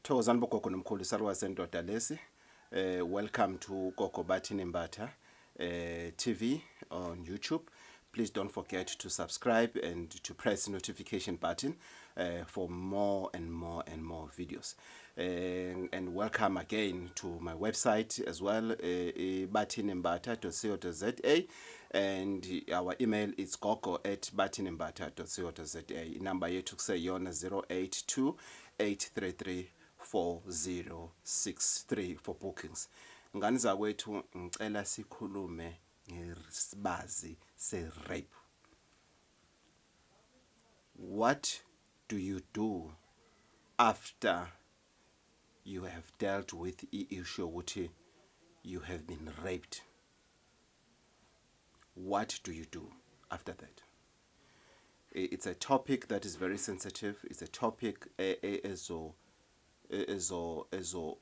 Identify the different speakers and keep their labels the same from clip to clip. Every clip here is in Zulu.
Speaker 1: Thokozani bogogo nomkhulu isaluka sendoda lesi eh welcome to gogo bathini mbatha eh TV on YouTube please don't forget to subscribe and to press notification button uh, for more and more and more videos and, and welcome again to my website as well uh, eh, bathinimbatha.co.za and our email is gogo at batinimbata.co.za inamba yethu kuseyona 082 833 4063 for bookings. Ngani zakwethu ngicela sikhulume ngesibazi se rape. What do you do after you have dealt with i issue ukuthi you have been raped? What do you do after that? it's a topic that is very sensitive it's a topic e, e, ezo e, ezo ezo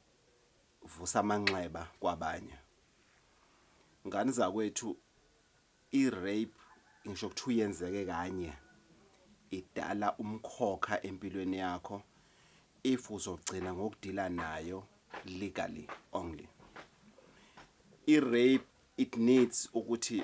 Speaker 1: vusa amanxeba kwabanye ngani zakwethu i rape ngisho ukuthi uyenzeke kanye idala umkhokha empilweni yakho if uzogcina ngokudila nayo legally only i rape it needs ukuthi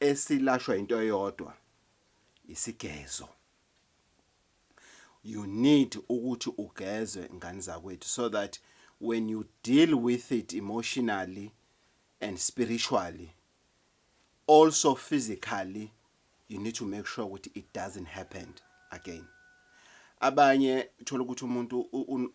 Speaker 1: esilashwa into eyodwa isigezo you need ukuthi ugezwe ngani zakwethu so that when you deal with it emotionally and spiritually also physically You need to make sure ukuthi it doesn't happened again. Abanye thola ukuthi umuntu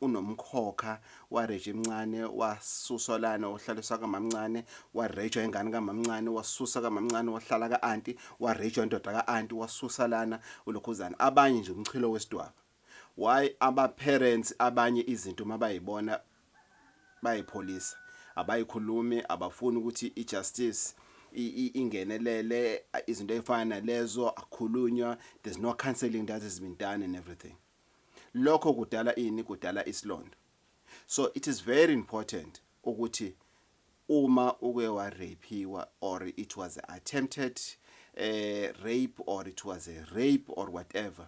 Speaker 1: unomkhokha wareje emncane wasuswa lana ohlaliswa kamamncane warejwa ingane kamamncane wasusa kamamncane wahlala ka-anti warejwa indoda ka-anti wasusa lana ulokhuzana abanye nje umchilo wesidwaba why aba parents abanye izinto mabayibona bayipholisa abayikhulumi abafuni ukuthi i justice ingenelele izinto ezifana nalezo akhulunywa there's no counseling that has been done and everything lokho kudala ini kudala isilondo so it is very important ukuthi uma uke wa rapiwa or it was attempted uh, rape or it was a rape or whatever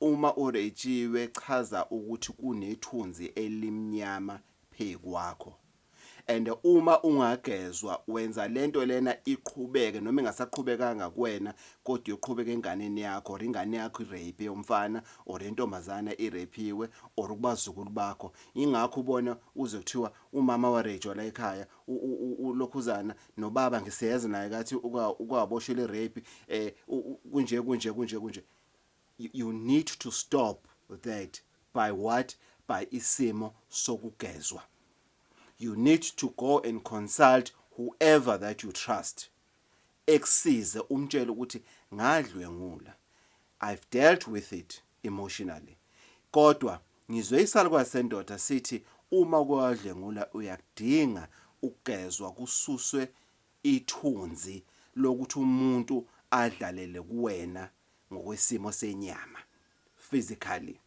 Speaker 1: Uma uretshiwe chaza ukuthi kunethunzi elimnyama phe kwakho and uma ungagezwa wenza lento lena iqhubeke noma ingasaqhubekanga kuwena kodwa iyoqhubeka enganeni yakho or ingane yakho irape umfana or intombazana irapiwe or kubazukulu bakho ingakho ubona uze kuthiwa umama warejwa la ekhaya ulokhuzana nobaba ngisiyeza naye kathi ukawaboshela irape eh kunje kunje kunje kunje you need to stop that by what by isimo sokugezwa you need to go and consult whoever that you trust ekusize umtshele ukuthi ngadlwengula i've dealt with it emotionally kodwa ngizwe isalukwazi sendoda sithi uma kwadlwengula uyakudinga ukugezwa kususwe Ithunzi lokuthi umuntu adlalele kuwena ngokwesimo senyama, physically,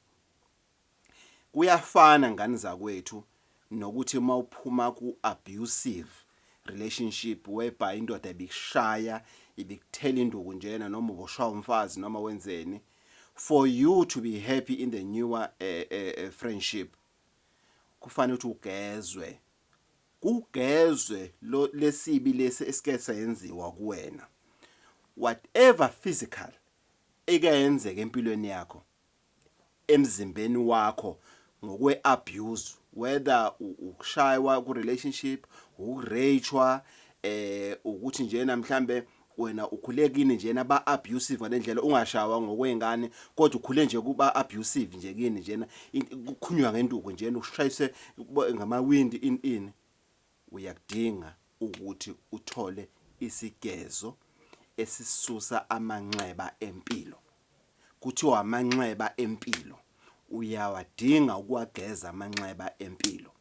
Speaker 1: kuyafana ngani zakwethu nokuthi uma uphuma ku abusive relationship whereby indoda ibikushaya, ibikuthela induku njena noma uboshwa umfazi noma wenzeni for you to be happy in the newer eh, eh, eh, friendship kufanele ukuthi ugezwe kugezwe lo lesibi lesi esike senziwa kuwena whatever physical ekayenzeka empilweni yakho emzimbeni wakho ngokwe abuse whether ukushaywa ku relationship ukurejwa eh ukuthi njena mhlambe wena ukhule kini njena ba abusive ngalendlela ungashawa ngokwengane kodwa ukhule nje kuba abusive nje kini njena kukhunywa ngenduku njena ushayise ngamawindi in in uyakudinga ukuthi uthole isigezo esisusa amanxeba empilo Kuthiwa amanxeba empilo uyawadinga ukuwageza amanxeba empilo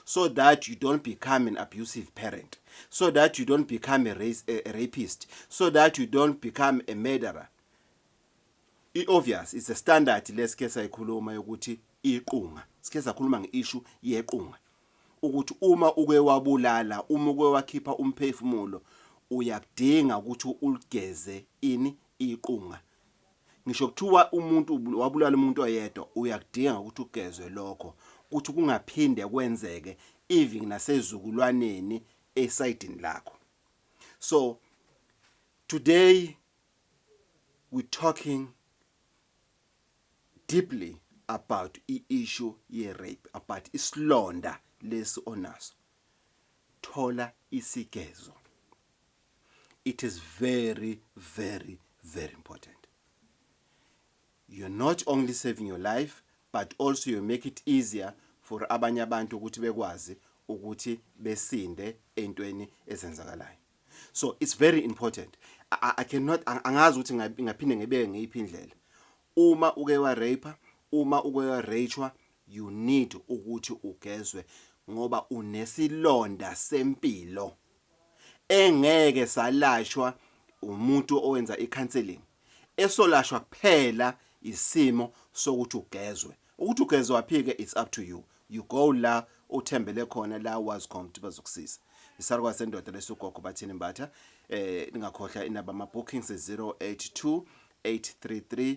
Speaker 1: so that you don't become an abusive parent so that you don't become a, race, a rapist so that you don't become a murderer i-obvious it's a standard lesike sayikhuluma yokuthi iqunga sike sakhuluma nge-issue yequnga ukuthi uma uke wabulala uma uke wakhipha umphefumulo uyakudinga ukuthi uligeze ini iqunga ngisho kuthiwa umuntu wabulala umuntu oyedwa uyakudinga ukuthi ugezwe lokho ukuthi kungaphinde kwenzeke even nasezukulwaneni esayidini lakho so today we talking deeply about i-issue ye-rape about isilonda lesi onaso thola isigezo it is very very very important you're not only saving your life but also you make it easier for abanye abantu ukuthi bekwazi ukuthi besinde entweni ezenzakalayo so it's very important i, I cannot angazi ukuthi ngaphinde ngebeke ngeyiphi indlela uma uke wa rape uma uke wa rachwa you need ukuthi ugezwe ngoba unesilonda sempilo engeke salashwa umuntu owenza i-counselling esolashwa kuphela isimo sokuthi ugezwe ukuthi ugezwaphi-ke it's up to you you go la uthembele khona la wazi khona ukuthi bazokusiza isarukwazi sendoda lesugogo bathini mbatha eh ningakhohlwa inaba ama-bookings 082 833